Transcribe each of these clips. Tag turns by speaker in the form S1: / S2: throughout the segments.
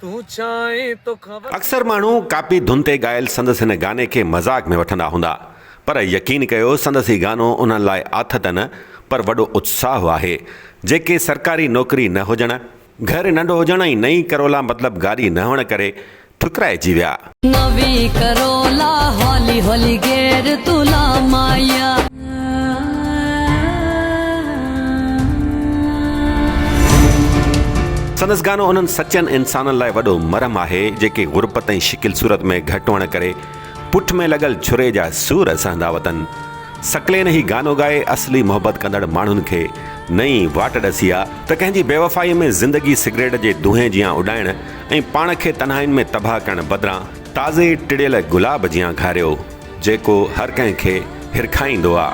S1: تون چاهين توکان وڌيڪ. اڪثر ماڻهو
S2: ڪاپي ڌن تي ڳايل سندس هن گاني کي مذاق ۾ وٺندا هوندا پر يقين ڪيو سندس هي گانو انهن لاء آٿت ته نه پر وڏو اتساهه آهي جيڪي سرڪاري نوڪري نه هجڻ، گهر ننڍو هجڻ ۽ نئين ڪرولا مطلب گاڏي نه هئڻ ڪري ٺڪرائجي ويا.
S3: نوي ڪرولا هولي هولي گير
S2: تون لا مايا. سندس گانو انهن سچن انسانن لاء وڏو مرهم آهي جيڪي غربت ۽ شڪل صورت ۾ گهٽ هئڻ ڪري پٺ ۾ لڳل ڇري جا سور سهندا وتن سڪلين هي گانو ڳائي اصلي محبت ڪندڙ ماڻهن کي نئين واٽ ڏسي ها ته ڪنهن جي بيوفائي ۾ زندگي سگريٽ جي دونهين جيان اڏائڻ ۽ پاڻ کي تنهائين ۾ تباهه ڪرڻ بدران تازي ٽڙيل گلاب جيان گهاريو، جيڪو هر ڪنهن کي هرکائيندو آ.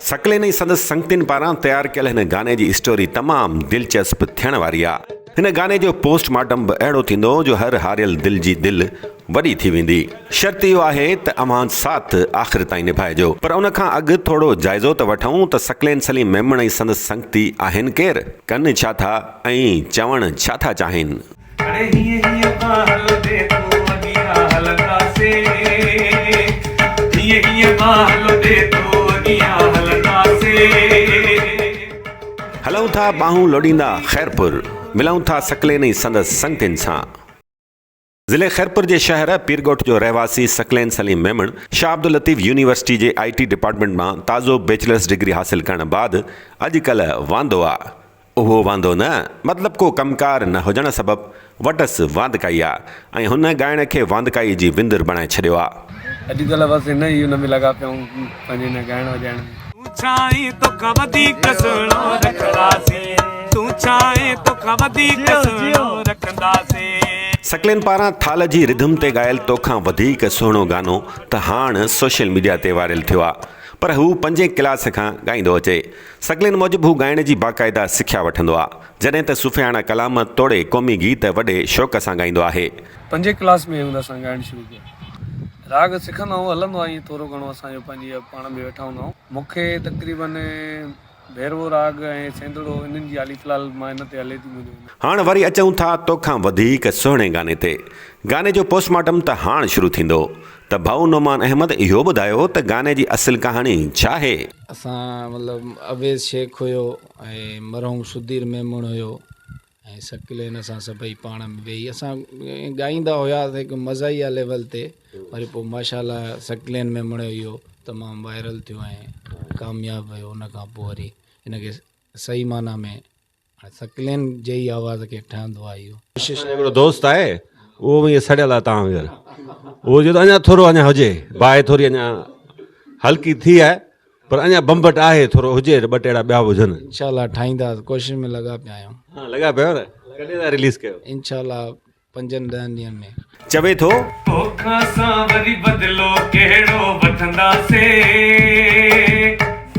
S2: ثقلين ۽ سندس سنگتين پاران تيار ڪيل هن گاني جي اسٽوري تمام دلچسپ ٿيڻ واري آ. هن گاني جو پوسٽ مارٽم به اهڙو ٿيندو جو هر هاريل دل جي دل وڏي ٿي ويندي. شرط اهو آهي ته اوهان ساٿ آخر تائين نڀائجو. پر ان کان اڳ ٿورڙو جائزو ته وٺون ته ثقلين سليم ميمڻ ۽ سندس سنگتي آهن ڪير؟ ڪن ڇا ٿا ۽ چوڻ ڇا ٿا چاهين؟ اڙي هيئن هيئن پا هلندي تون اڳيان هلنداسين هيئن هيئن پا هلندي تون اڳيان هلنداسين. هلون ٿا ٻانهون لوڏيندا خيرپور ملون ٿا سڪلين ۽ سندس سنگتين سان. ضلعي خيرپور جي شهر پيرڳوٺ جو رهواسي سڪلين سليم ميمڻ شاهه عبداللطيف يونيورسٽي جي آء ٽي ڊپارٽمينٽ مان تازو بيچلرس ڊگري حاصل ڪرڻ بعد اڄ ڪلهه واندو آ اهو واندو نه مطلب ڪو ڪم ڪار نه هجڻ سبب وٽس واندڪائي آ ۽ هن ڳائڻ کي واندڪائي جي وندر بڻائي ڇڏيو آ. اڄ ڪلهه بس هن
S1: ئي ان ۾ لڳا پيا آهيون پنهنجي هن ڳائڻ وڄائڻ ۾. تون ڇاهين توکان وڌيڪ سهڻو رکنداسين تون ڇاهين توکان وڌيڪ سهڻو رکنداسين. سڪلين پاران ٿال جي رڌم تي ڳايل توکان وڌيڪ سهڻو گانو ته هاڻ سوشل ميڊيا تي وائرل ٿيو آ پر هو پنجين ڪلاس کان ڳائيندو اچي سگلين موجب هو ڳائڻ جي باقاعده سکيا وٺندو آ، جڏهن ته صوفياڻه ڪلام توڙي قومي گيت وڏي شوق سان ڳائيندو آهي. پنجين ڪلاس ۾ هن اسان ڳائڻ شروع ڪيو. راڳ سکندا آهون، هلندو آ ائين ٿورو گهڻو اسان جو پنهنجي پاڻ ۾ ويٺا هوندا آهون. مون کي تقريباً ڀيروو راڳ ۽ سينڌڙو انهن جي هالي في الحال مان هن تي هلي ٿي منهنجو هن. هاڻ وري اچون ٿا توکان وڌيڪ سهڻي گاني تي. گاني جو پوسٽ مارٽم ته هاڻ شروع ٿيندو. ته ڀائو نعمان احمد اهو ٻڌايو ته گاني جي اصل ڪهاڻي ڇا آهي؟ اسان مطلب
S4: اويس شيخ هيو ۽ مرحوم سدير ميمڻ هيو ۽ سڪلين اسان سڀئي پاڻ ۾ ويهي اسان ڳائيندا هياسين هڪ مزاحيه ليول تي وري پوء ماشاءالله سڪلين ميمڻ اهو تمام وائرل ٿيو ۽ ڪامياب ويو ان کان پوء وري ان کي صحيح معنيٰ ۾ سڪلين جي ئي آواز کي ٺهندو آهي اهو. ڪشش جو هڪڙو دوست آهي
S2: اهو به ائين سڙيل آهي توهان وانگر اهو چوي ٿو اڃا ٿورو اڃا هجي باهه ٿوري اڃا هلڪي ٿي آهي پر اڃا بمبٽ آهي ٿورو هجي ته ٻه ٽي اهڙا ٻيا به هجن. انشاء الله ٺاهينداسين
S4: ڪوشش ۾ لڳا پيا آهيون. ها لڳا پيا آهيو نه
S2: ڪڏهن ٿا رليز ڪيو. انشاء الله
S4: پنجن ڏهن ڏينهن ۾. چوي ٿو.
S2: توکان سان
S1: وري بدلو ڪهڙو وٺنداسين.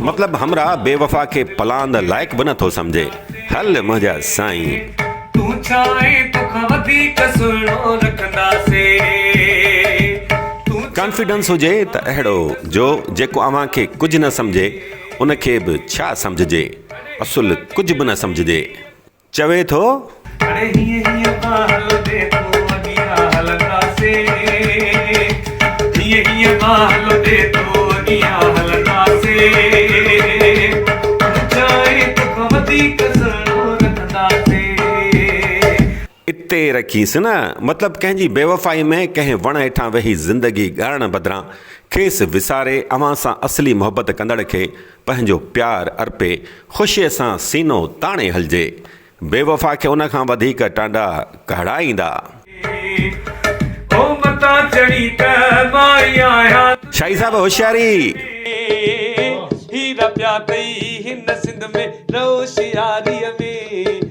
S2: مطلب همراهه بي وفا کي پلاند لائق به نه ٿو سمجهي. هل منهنجا سائين. تون ڇا
S1: آهين توکان وڌيڪ سهڻو رکنداسين.
S2: ڪانفيڊنس هجي ته اهڙو جو جيڪو اوهان کي ڪجهه نه سمجهي ان کي به ڇا سمجهجي اصل ڪجهه به نه سمجهجي. چوي ٿو. اڙي هيئن هيئن پيا هلندي تون اڳيان هلنداسين هيئن هيئن پيا هلندي تون اڳيان هلنداسين اونچائين توکان وڌيڪ سهڻو رکنداسين. اتي رکيس نه مطلب ڪنهن جي بيوفائي ۾ ڪنهن وڻ هيٺان ويهي زندگي ڳارڻ بدران کيس وساري اوهان سان اصلي محبت ڪندڙ کي پنهنجو پيار ارپي خوشيء سان سينو تاڻي هلجي. بيوفا کي ان کان وڌيڪ ٽانڊا ڪهڙا ايندا. شاهي صاحب
S1: هوشياري.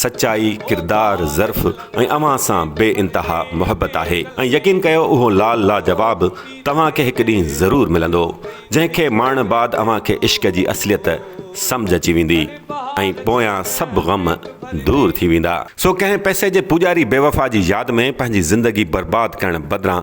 S2: سچائي، ڪردار، ظرف ۽ اوهان سان بي انتها محبت آهي ۽ يقين ڪيو اهو لال لاجواب توهان کي هڪ ڏينهن ضرور ملندو جنهن کي ماڻڻ بعد اوهان کي عشق جي اصليت سمجهه اچي ويندي ۽ پويان سڀ غم دور ٿي ويندا. سو ڪنهن پئسي جي پوڄاري بيوفا جي ياد ۾ پنهنجي زندگي برباد ڪرڻ بدران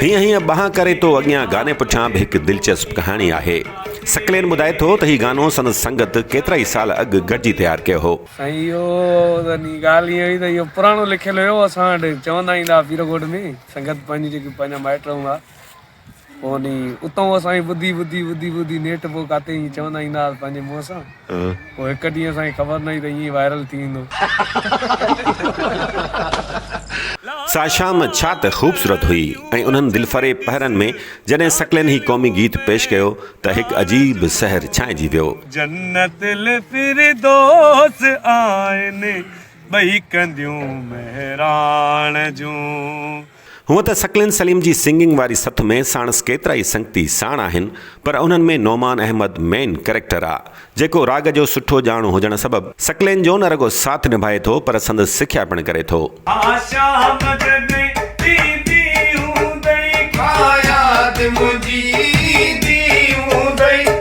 S1: هيئن
S2: هيئن ٻانهن ڪري تو اڳيان گاني پٺيان به هڪ دلچسپ ڪهاڻي آهي. سڪلين ٻڌائي ٿو ته هي گانو سندس سنگت ڪيترائي سال اڳ گڏجي تيار ڪيو هو. سائين اهو
S1: يعني ڳالهه ائين هئي ته اهو پراڻو لکيل هيو اسان وٽ چوندا ايندا هئا پيرو ڳوٺ ۾ سنگت پنهنجي جيڪي پنهنجا مائٽ هوندا پوء اتان اسان کي ٻڌي ٻڌي ٻڌي ٻڌي نيٺ پوء ڪاتي ائين چوندا ايندا هئاسين پنهنجي منهن سان پوء هڪ ڏينهن اسان کي خبر نه هئي ته ائين وائرل ٿي ويندو.
S2: سا شام ڇا ته خوبصورت هئي ۽ انهن دلفريب پهرن ۾ جڏهن سڪلين هي قومي گيت پيش ڪيو ته هڪ عجيب سحر ڇانئجي ويو. جنت
S1: الفردوس آهن ٻئي ڪنديون مهراڻ جون. هونء
S2: ته ثقلين سليم جي سنگنگ واري سٿ ۾ ساڻس ڪيترائي سنگتي ساڻ آهن پر انهن ۾ نعمان احمد مين ڪريڪٽر آ جيڪو راڳ جو سٺو ڄاڻو هجڻ سبب ثقلين جو نه رڳو ساٿ نڀائي ٿو پر سندس سکيا پڻ ڪري ٿو. آشا مدد ڏيندي
S1: هوندئي. ڪا ياد منهنجي ايندي هوندئي.